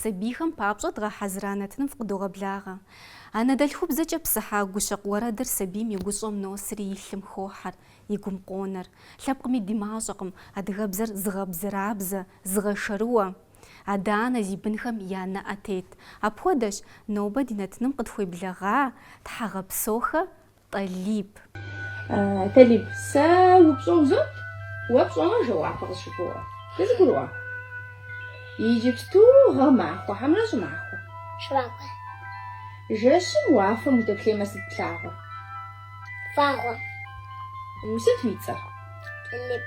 Сабийхэм папщӏэ дгъэхьэзыра нэтыным фкъыдогъэблагъэ. Анэдэлъхубзэкӏэ псыхьа гущэкъу уэрэдыр сабийм и гущӏэм носри и лъым хохьэр, и гум къонэр. Лъэпкъми ди мащӏэкъым адыгэбзэр зыгъэбзэрабзэ, зыгъэшэрыуэ. Адэ-анэ зи бынхэм я нэӏэ тет. Апхуэдэщ, нобэ ди нэтыным къытхуеблэгъа тхьэгъэпсохэ Тӏалиб. Тӏалиб, сэ упщӏэ узот, уэ пщӏэмэ жэуапу къысщыгугъэ. Дызэгурыӏуа? Иджыпсту гъэмахуэ хьэмэрэ щӏымахуэ? Щӏымахуэ. Жэщым уафэм удэплъеймэ сыт плъагъур? Вагъуэ. Сыт уи цӏэр? Тӏалиб.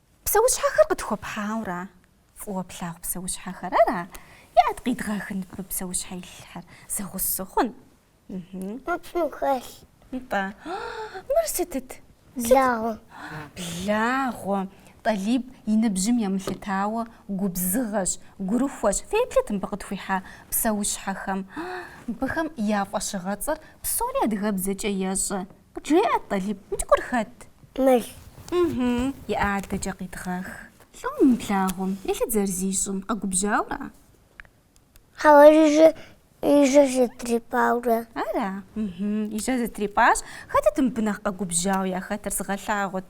Псэущхьэхэр къытхуэпхьауэра? Фӏыуэ плъагъу псэущхьэхэр ара? Иӏэт къидгъэхын мыбы псэущхьэ илъхэр? Зэгъусэ сыхъун. Мы псым хэлъ. Нтӏэ. Мыр сытыт? Благъуэ. Благъуэ. Тӏалиб и ныбжьым емылъытауэ губзыгъэщ, гурыхуэщ. Феплъыт мыбы къытхуихьа псэущхьэхэм. Мыбыхэм я фӏэщыгъэцӏэр псори адыгэбзэкӏэ ещӏэ. Къыджеӏэт, Тӏалиб, мы цӏыкӏур хэт? Мэл. Ыхьы, и адэкӏэ къидгъэх. Лӏо мы благъуэм, еплъыт зэрызищӏым, къэгубжьауэра? Хьэуэ, и жьэр зэтрипӏауэ. Ара? Ыхьы, и жьэр зэтрипӏащ. Хэтыт мыбы нэхъ къэгубжьауэ яхэтыр, сыгъэлъагъут.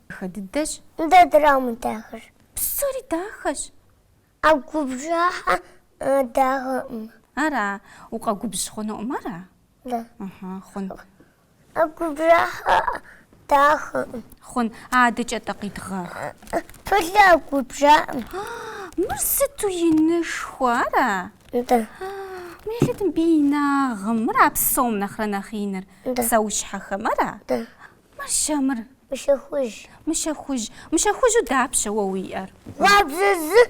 Дахэ дыдэщ. Нтӏэ дара мыдахэр? Псори дахэщ. А губжьахэр дахэкъым. Ара? Укъэгубжь хъунукъым, ара? Да. Ыхьы, хъун. А губжьахэр дахэкъым. Хъун. Адэкӏэ-тӏэ къидгъэх. Пылыр губжьакъым. Мыр сыту инышхуэ, ара? Нтӏэ. Еплъыт мыбы и инагъым, мыра псом нэхърэ нэхъ иныр? Нтӏэ. Псэущхьэхэм, ара? Нтӏэ. Мыр щэ, мыр? Мыщэ хужь. Мыщэ хужь. Мыщэ хужьу дапщэ уэ уиӏэр? Гъуабжэ зы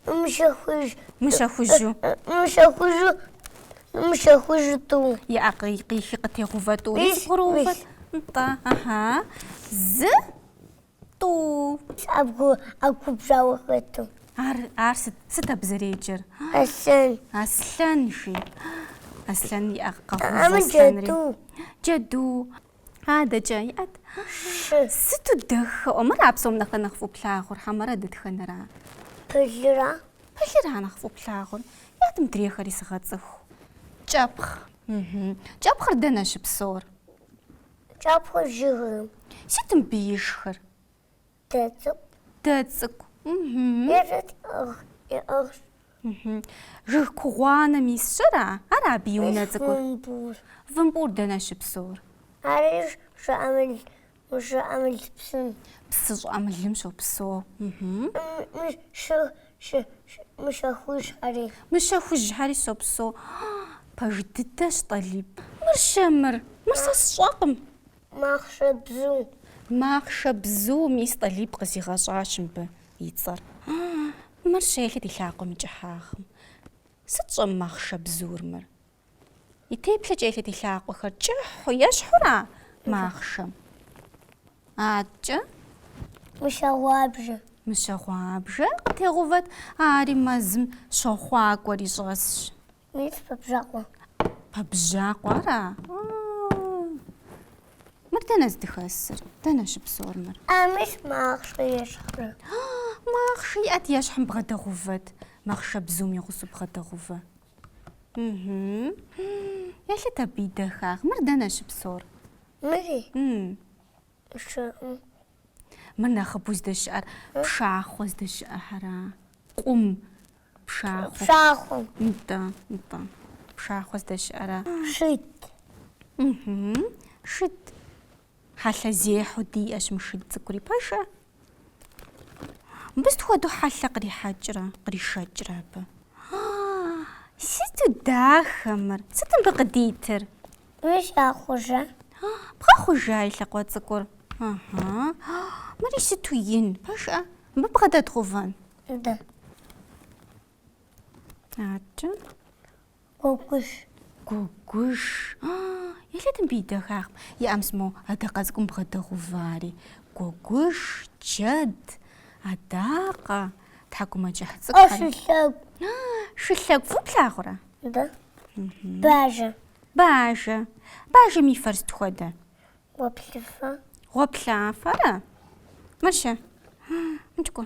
мыщэ хужь. Мыщэ хужьу. Мыщэ хужьу. Мыщэ хужьу тӏу. Иӏэ, къихи къытегъэувэ тӏу. Мис бгъуроувэ. Нтӏэ. Ыхьа. Зы. Тӏу. А губжьауэ хэту. Ар, ар сыт, сыт абы зэреджэр? Аслъэн. Аслъэн, жи. Аслъэн иӏэ, къэгъэув аслъэнри. джэду. Джэду. Адэкӏэ иӏэт? Шы. Сыту дахэӏуэ, мыра псом нэхъэ нэхъ фӏыуэ плъагъур, хьэмэрэ дэтхэнэра? Пылыра. Пылыра нэхъ фӏыуэ плъагъур. Иӏэт мыдрейхэри сыгъэцӏыху. Кӏэпхъ. Мхм. Кӏэпхъыр дэнэ щыпсэур? Кӏэпхъыр жыгым. Сыт мыбы ишхыр? Дэ цӏыкӏу. Дэ цӏыкӏу. Ежэт иӏыгъ, иӏыгъщ. Жыг кугъуанэм исщ, ара? Ар абы и унэ цӏыкӏур? Вымпӏур. Вымпӏур дэнэ щыпсэур? Ари щӏыӏэмыл, щӏыӏэмыл псым. Псы щӏыӏэмылым щопсэу. Мис шыг Мыщэ хужьхьэри. Мыщэ хужьхьэри щопсэу. Пэж дыдэщ Тӏалиб. Мыр щэ мыр? Мыр сэ сщӏэкъым. Махъшэбзу. Махъшэбзу, мис Тӏалиб къызигъэщӏащ мыбы и цӏэр. Мыр щэ елъыт и лъакъуэм и кӏыхьагъым. Сыт щӏэмахъшэбзур мыр? И теплъэкӏэ елъыт и лъакъуэхэр, кӏыхьу ещхьура махъшэм? Аткӏэ? Мыщэгъуабжэ. Мыщэгъуабжэ къытегъувэт, ари мэзым щохъуакӏуэри щӏэсщ. Мис пэбжьакъуэ. Пэбжьакъуэ ара? Мыр дэнэ здыхэсыр? Дэнэ щыпсэур мыр? А мис махъшэ ещхьурэ. Махъшэ иӏэт ещхьым бгъэдэгъувэт, махъшэбзум и гъусэу бгъэдэгъувэ. Елъыт абы и дахагъ. Мыр дэнэ щыпсор? Мыри? Сщӏэкъым. Мыр нэхъыбэу здэщыӏэр пшахъуэ здэщыӏэхьэра? Къум пшахъуэ. Пшахъуэм. Нтӏэ, нтӏэ. Пшахъуэ здэщыӏэра? Шыд. Шыд. Хьэлъэзехьэу диӏэщ мы шыд цӏыкӏури, пэжа? Мыбы сыт хуэдэу хьэлъэ кърихьэкӏрэ, къришэкӏрэ абы? Сыту дахэ мыр! Сыт мыбы къыдитыр? Мыр згъэхъужа. Бгъэхъужа и лъакъуэ цӏыкӏур? Ыхьы. Мыри сыту ин, пэжа? Мыбы бгъэдэдгъувэн? Да. Аткӏэ. Гуэгуш. Гуэгуш. А-а-а, елъыт мыбы и дахагъым. Иӏэ мис мо адакъэ цӏыкӏум бгъэдэгъувари. Гуэгуш, джэд, адакъэ, тхьэкӏумэкӏыхь цӏыкӏухэри. Ӏэ, шылъэгу. А-а-а, шылъэгу фӏыу плъагъурэ? Да. Бажэ. Бажэ. Бажэм и фэр сыт хуэдэ? Гъуэплъыфэ. Гъуэплъыфэра? Мыр щэ? А-а-а, мыкӏ кӏуэ.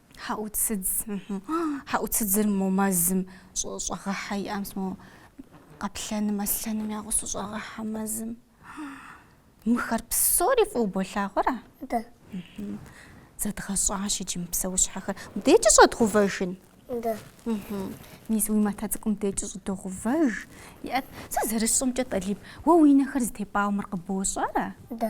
Хьэӏуцыдз. Хьэӏуцыдзыр мо мэзым щӏэгъэхьэ иӏэ мис мо къэплъэным, аслъэным я гъусу щӏэгъэхьэ мэзым. Мыхэр псори фӏыу болъагъуэрэ? Да. Зэдгъэщӏащ иджы мы псэущхьэхэр. Мыдекӏи щӏэдгъувэжын? Да. Мис уи матэ цӏыкӏум декӏи щӏыдогъувэж. Иӏэт, сэ зэрысщӏэмкӏэ, Тӏалиб, уэ уи нэхэр зытепӏауэ мыр къыбощӏэрэ? Да.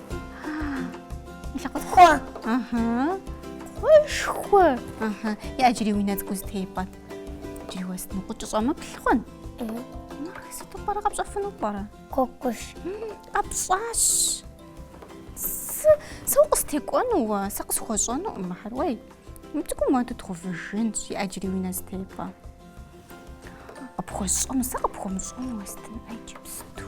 Хъуэ. Ага. Хъуэшхуэ. Ага. Иӏэ иджыри уи нэ цӏыкӏу зэтепӏэт. Иджыри уэстыну, укъыщӏэмыплъ, хъун. Сыту пӏэрэ къэпщӏэфыну пӏэрэ? Гуэгуш. Къэпщӏащ. Сэ укъыстекӏуэну уэ, сэ къысхуэщӏэнукъым мыхьэр. Уей, мы цӏыкӏум уэ дытхъувыжынщ, иӏэ иджыри уи нэ зэтепӏэ. Къыпхуэсщӏэну, сэ къыпхуэмыщӏэну уэстын иджыпсту.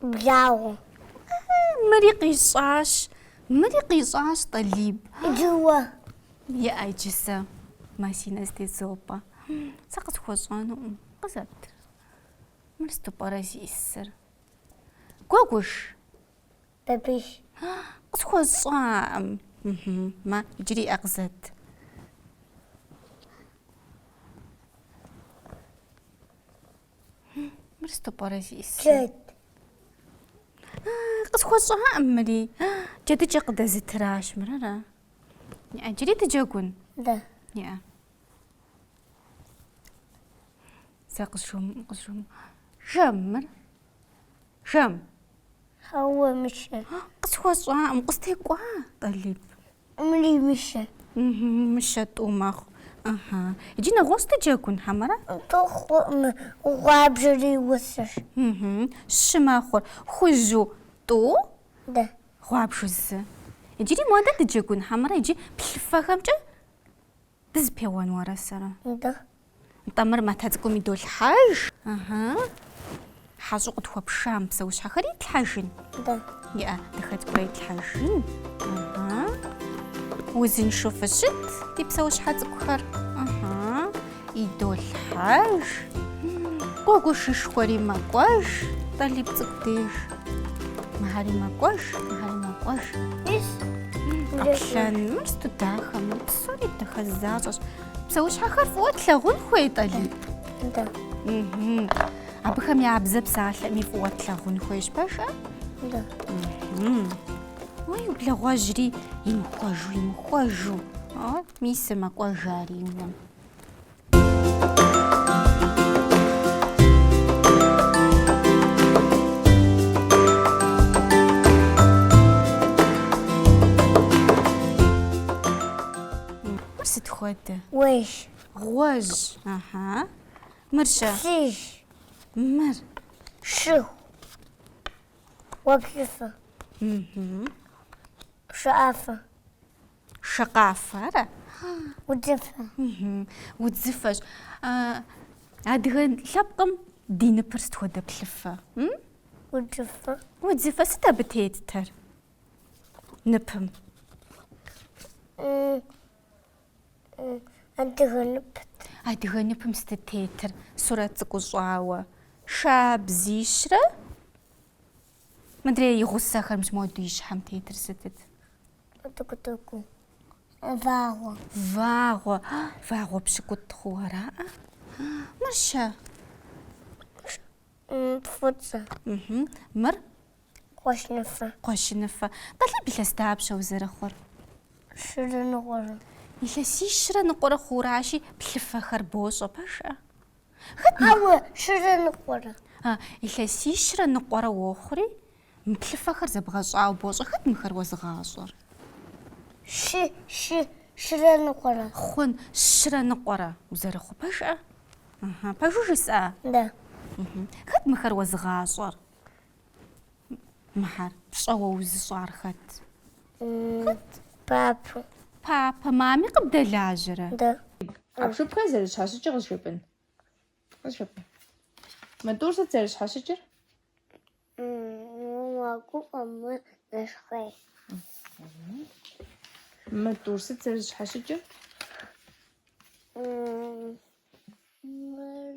Благъуэ. Мыри къищӏащ, мыри къищӏащ, Тӏалиб. Иджы уэ. Иӏэ иджы сэ. Мэ си нэ зэтезопӏэ. Сэ къысхуэщӏэнукъым. Къызэт. Мыр сыту пӏэрэ зиӏысыр? Гуэгуш. Бабыш. Къысхуэщӏакъым. Мэ иджыри иӏэ къызэт. Мыр сыту пӏэрэ зиӏысыр? Джэд. Къысхуэщӏаӏым мыри. Джэдыкӏэ къыдэзытыращ мырэрэ. Иӏэ, джыри дыджэгун? Да. Иӏэ. Сэ къысшум, къысшум. Жэм мыр? Жэм. Хьэуэ мыщэ. Къысхуэщӏаӏым, къыстекӏуа, Тӏалиб. Мыри мыщэ. Мыщэ тӏу мэхъу. Ыхьы. Иджы нэгъуэщӏ дыджэгун, хьэмэрэ? Тӏу хъуӏым, гъуабжэри гъусэщ. Ыхьы. Щы мэхъур. Хужьу тӏу? Да. Гъуабжу зы. Иджыри модэ дыджэгун, хьэмэрэ иджы плъыфэхэмкӏэ? Дызэпеуэн уэрэ сэрэ? Нтӏэ. Нтӏэ, мыр матэ цӏыкӏум идолъхьэж. Ыхьы. Хьэщӏу къытхуэпша мы псэущхьэхэр итлъхьэжын? Нтӏэ. Иӏэ, дахэ цӏыкӏурэ итлъхьэжын. Ыхьы. Узыншэу фыщыт ди псэущхьэ цӏыкӏухэр. Ыхьы. Идолъхьэж. Гуэгушышхуэри мэкӏуэж Тӏалиб цӏыкӏу деж. Мыхьэри мэкӏуэж, мыхьэри мэкӏуэж. Ис. Къэплъэн. Мыр сыту дахэ, мыр Псори дахэ защӏэщ. Псэущхьэхэр фӏыуэ тлъагъун хуей, Тӏалиб? Да. Абыхэм я бзэ псалъэми фӏыуэ тлъагъун хуейщ, пэжкъэ? Да. Уей, благъуэжьри, имыхуэжу, имыхуэжу. Мис мэкӏуэж ари и унэм. сыт хуэдэ? Уэш. Гъуэжь. Аха. Мыр-щэ. Плъыжь. Мыр. Щӏыху. Гъуэплъыфэ. Шакъэфэ. Шакъафэ, ара? Удзыфэ. Удзыфэщ. Адыгэ лъэпкъым ди ныпыр сыт хуэдэ плъыфэ? Удзыфэ. Удзыфэ сыт абы тетыр? Ныпым. Адыгэ нып. Адыгэ ныпым сыт тетыр? Сурэт цӏыкӏу щӏауэ. Шабзищрэ мыдрей и гъусэхэр мис моду и щхьэм тетыр сытыт? Тыкутуку. Вагъуэ. Вагъуэ. Вагъуэ пщыкӏутӏ хъу ара? Мыр щэ. Фӏыцӏэ. Мыр? Кхъуэщыныфэ. Кхъуэщыныфэ. Тӏалиб, илъэс дапщэ узэрыхъур? Щырэ ныкъуэрэ. Илъэсищрэ ныкъуэрэ хъуращи, плъыфэхэр бощӏэ пэжкъэ. Ауэ щырэ ныкъуэрэ. А, илъэсищрэ ныкъуэрэ уохъури, мы плъыфэхэр зэбгъэщӏауэ бощӏэ. Хэт мыхэр уэзыгъащӏэр? Щы, щы, щырэ ныкъуэрэ. Хъун, щрэ ныкъуэрэ. Узэрыхъу пэжкъэ? Пэжу жысӏа? Да. Хэт мыхэр уэзыгъащӏэр? Мыхэр пщӏэуэ узыщӏар хэт? Хэт? Папэ. Папэ, мами къыбдэлажьэрэ? Да. Ӏэпхыпхэр зэрыщхьэщыкӏыр къызжепӏын. Къызжепӏын. Мо тӏур сыт зэрыщхьэщыкӏыр? Мэгуфӏэ, мэнэщхъей. Мо тӏур сыт зэрыщхьэщыкӏыр? Мыр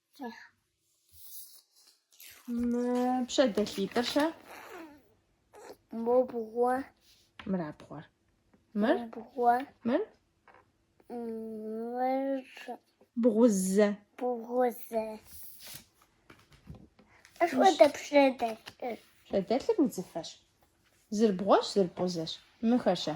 Пщэдэлъитӏыр щэ? Мо бгъуэ. Мыра бгъуэр? Мыр? Мо бгъуэ. Мыр? Мыр. Бгъузэ. Бгъузэ. Ашхуэдэ пщэдэлъыр. Пщэдэлъыр удзыфэщ. Зыр бгъуэщ, зыр бгъузэщ. Мыхэр щэ?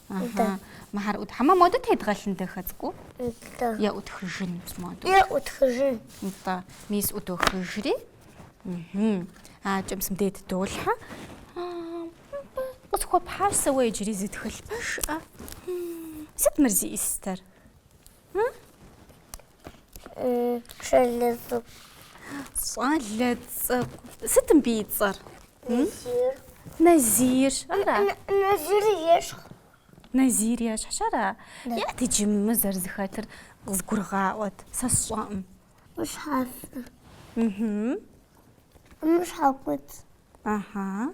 Да. Мыхэр ӏутх, хьэмэ модэ тедгъэлъын дахэ цӏыкӏуу? Да. Е ӏутхыжын модэ? Е ӏутхыжын. Да. Мис ӏудохыжри. Аткӏэ мис мыдэ тыдолъхьэ. Къысхуэпхьащ сэ уэ иджыри зы тхылъ пэжкъэ. Сыт мыр зиӏысыр? Щӏалэ цӏыкӏу. Щӏалэ цӏыкӏу. Сыт мыбы и цӏэр? Назир. Назир. Ара? Назир ещхьу. Назир ещхьщ ара? Е иджы мы зэрызэхэтыр къызгурыгъаӏуэт. Сэ сщӏэкъым. Мы щхьэфэ. Мы щхьэкуцӏ. Ага.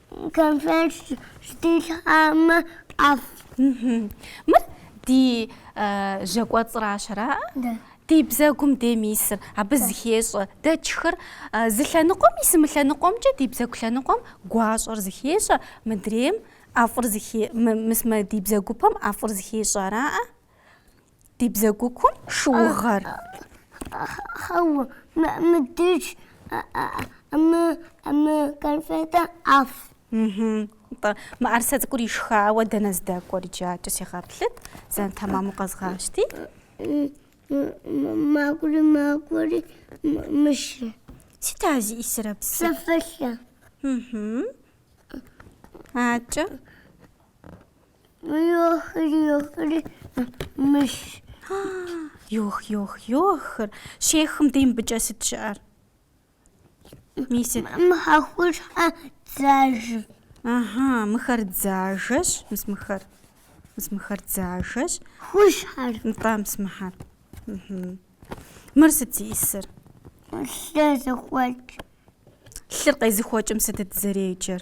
Конфет щытилъхьэмэ ӏэфӏ. Мыр ди жьэкӏуэцӏыращ ара? Да. Ди бзэгум дейм исыр, абы зыхещӏэ. Дэ тшхыр зы лъэныкъуэм ис, мы лъэныкъуэмкӏэ ди бзэгу лъэныкъуэм гуащӏэр зыхещӏэ, мыдрейм ӏэфӏыр зыхе... мыс мы ди бзэгупэм ӏэфӏыр зыхещӏэ араӏэ? Ди бзэгу кум шыугъэр. Хьэуэ, мыдеж, мы, мы конфетэ ӏэфӏ. Тӏэ, мыӏэрысэ цӏыкӏур ишхауэ дэнэ здэкӏуэр иджакӏэ сегъэплъыт, зэн тэмэму къэзгъащти. Макӏуэри, макӏуэри, мыщэ. Сыт а зиӏисырэ псы? Псэфэлъэ. Акӏэ. Йох-йох-йохыр щехым дей мыбыкӏэ сыт щыӏэр? Мы сыт? Мыхьэр къупщхьэ, дзажэ. Ага, мыхэр дзажэщ, мыс мыхэр. Мыс мыхэр дзажэщ. Къупщхьэр. Нтӏэ, мыс мыхьэр. Мыр сыт зиӏисыр? Лъы зыхуэкӏ. Лъыр къезыхуэкӏым сытыт зэреджэр?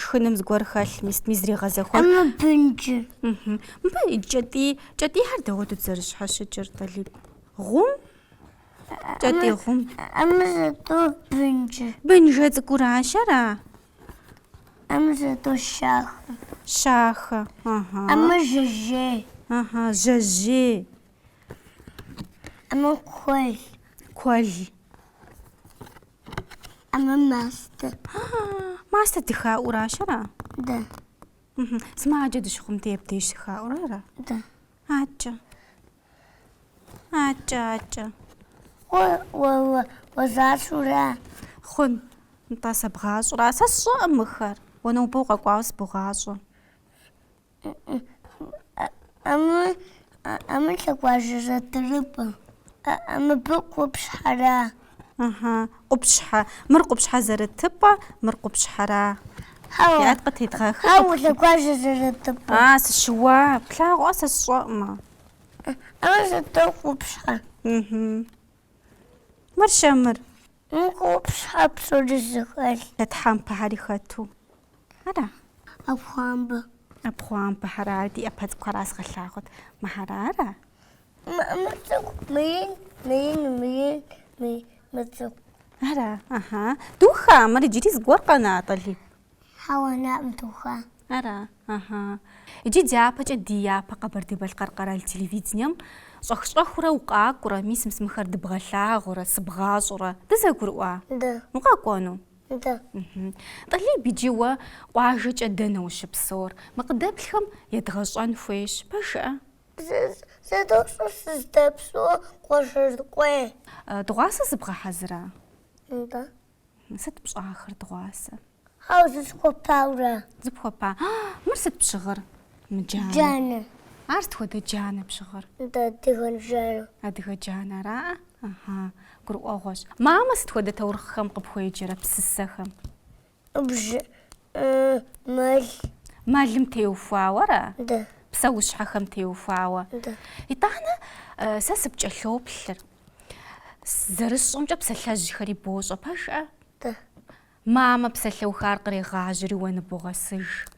Шхыным зыгуэр хэлъ, мис зригъэзэхуэ. Амэ бынджыр. Мыбы кӏэтӏий, кӏэтӏийхэр дауэт зэрыщхьэщыкӏыр, Талиб? Гъум? Кӏэтӏий гъум. Амэ сыту бынджыр. Бынджэ цӏыкӏуращ ара? Амэ сыту щахэ. Щахэ. Ага. Амэ жэжьей. Ага, жэжьей. Амэ куэл. Куэл. Ама мастэ. Мастэ дыхаӏуращ ара? Да. Сымаджэ дыщыхъум дей абдеж щыхаӏурэ ара? Да. Акӏэ. Акӏэ, акӏэ. Уезэшра? Хъун. Нтӏэ сэбгъащӏэра? Сэ сщӏэӏым мыхэр. Уэ нобэ укъэкӏуауэ сыбогъащӏэ. А мыр лъэгуажьэ зэрытыпӏэ. Мыбы къупщхьэра? Ыхьы, къупщхьэ. Мыр къупщхьэ зэрытыпӏэ, мыр къупщхьэра? Хьэуэ. Къытедгъэхы. Хьэуэ, лъэгуажьэ зэрытыпӏэ. А, сыщыуа, плъагъуа сэ сщӏэӏымэ. А мыр сыту къупщхьэ. Ыхьы. Мыр-щэ, мыр? Мы къупщхьэ псор зыхэлъ. Тхьэмпэхэри хэту. Ара? ӏэпхъуамбэ. ӏэпхъуамбэхэра, ди ӏэпэ цӏыкӏухэр къазгъэлъагъут. Мыхьэр ара? Мы цӏыкӏу, мы ин, мы ин, мы ин, мы цӏыкӏу. Ара, ыхьэ. Духа, мыр иджыри зыгуэр къэна, Талиб? Хьэуэ, наӏ мытуха. Ара? Ыхьы. Иджы дяпэкӏэ ди япэ Къэбэрдей-Балъкъэр къэрал телевидением щӏэх-щӏэхыурэ укъакӏурэ, мис мы сымхэр дыбгъэлъагъурэ, сыбгъащӏурэ. Дызэгурыӏуа? Да. Укъэкӏуэну? Да. Ыхьы. Тӏалиб, иджы уэ къуажэкӏэ дэнэ ущыпсэур? Мы къыдэплъхэм едгъэщӏэн хуейщ. Пэжыӏэ? Зэ, зэ дощӏэ сыздэпсэур Къуэшыркъуей. Дыгъуасэ зыбгъэхьэзыра? Да. Сыт пщӏахэр дыгъуасэ? Хьэу зысхуэпауэра? Зыпхуэпа. Мыр сыт пщыгъыр? Мы джанэ. Джанэ. Ар сыт хуэдэ джанэ пщыгъыр? Нтӏэ, адыгэ джанэ. Адыгэ джанэ ара? Ыхьа, гурыӏуэгъуэщ. Мамэ сыт хуэдэ таурыхъхэм къыпхуеджэрэ, псысэхэм? Бжэн, мэл. Мэлым теухуауэра? Да. Псэущхьэхэм теухуауэ? Да. Итӏанэ сэ сыпкӏэлъоплъыр. Зэрысщӏэмкӏэ псалъэжьхэри бощӏэ пэжыӏэ? Да. Мамэ псалъэухар кърегъажьэри уэ ныбогъэсыж.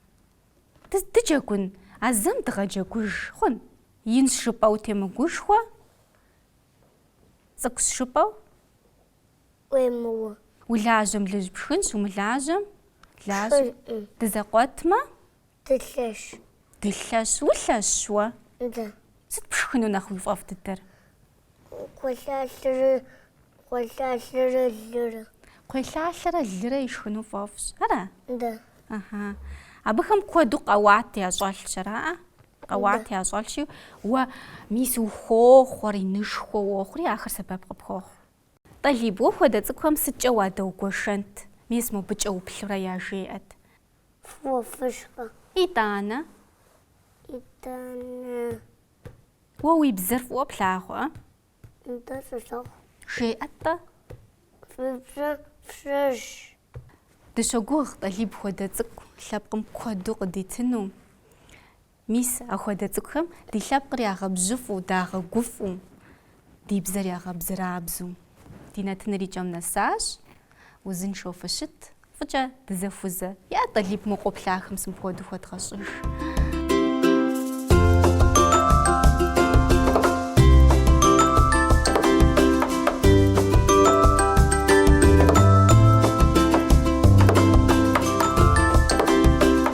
Дыджэгун, а зэм дыгъэджэгуж хъун? Инщ жыпӏэу темыгушхуэ? Цӏыкӏущ жыпӏэу? уемыуэ. Улажьэм лыжь пшхынщ, умылажьэм лажьэ. Пшхынкъым. Дызэкъуэтмэ. Дылъэщ. Дылъэщ. Улъэщщ уэ? Да. Сыт пшхыну нэхъ уи фӏэфӏ дыдэр? Кхъуейлъалъэрэ, кхъуейлъалъэрэ лырэ. Кхъуейлъалъэрэ лырэ ишхыну фӏэфӏщ, ара? Да. Ыхьы. Абыхэм куэду къэуат ящӏэлъщ, араӏэ? Къэуат ящӏэлъщи, уэ мис ухохъуэри, инышхуэ уохъури, ахэр сэбэп къыпхуохъу. Тӏалиб, уэ хуэдэ цӏыкӏухэм сыткӏэ уадэугуэшэнт, мес мобыкӏэ уплъурэ яжеӏэт. Фӏыуэ фышхэ. Итӏанэ. Итӏанэ. Уэ уи бзэр фӏыуэ плъагъуэ? Нтӏэ, солъагъу. Жеӏэ-тӏэ. Фи бзэр фщӏыж. Дыщогугъ Тӏалиб хуэдэ цӏыкӏу лъэпкъым куэду къыдитыну. Мис ахуэдэ цӏыкӏухэм ди лъэпкъыр ягъэбжьыфӏу, дагъэгуфӏу, ди бзэр ягъэбзырабзу. Ди нэтыныр и кӏэм нэсащ, узыншэу фыщыт, фӏыкӏэ дызэхузэ, е Тӏалиб, мы къоплъахэм зэ мыпхуэдэу хуэдгъэщӏыж.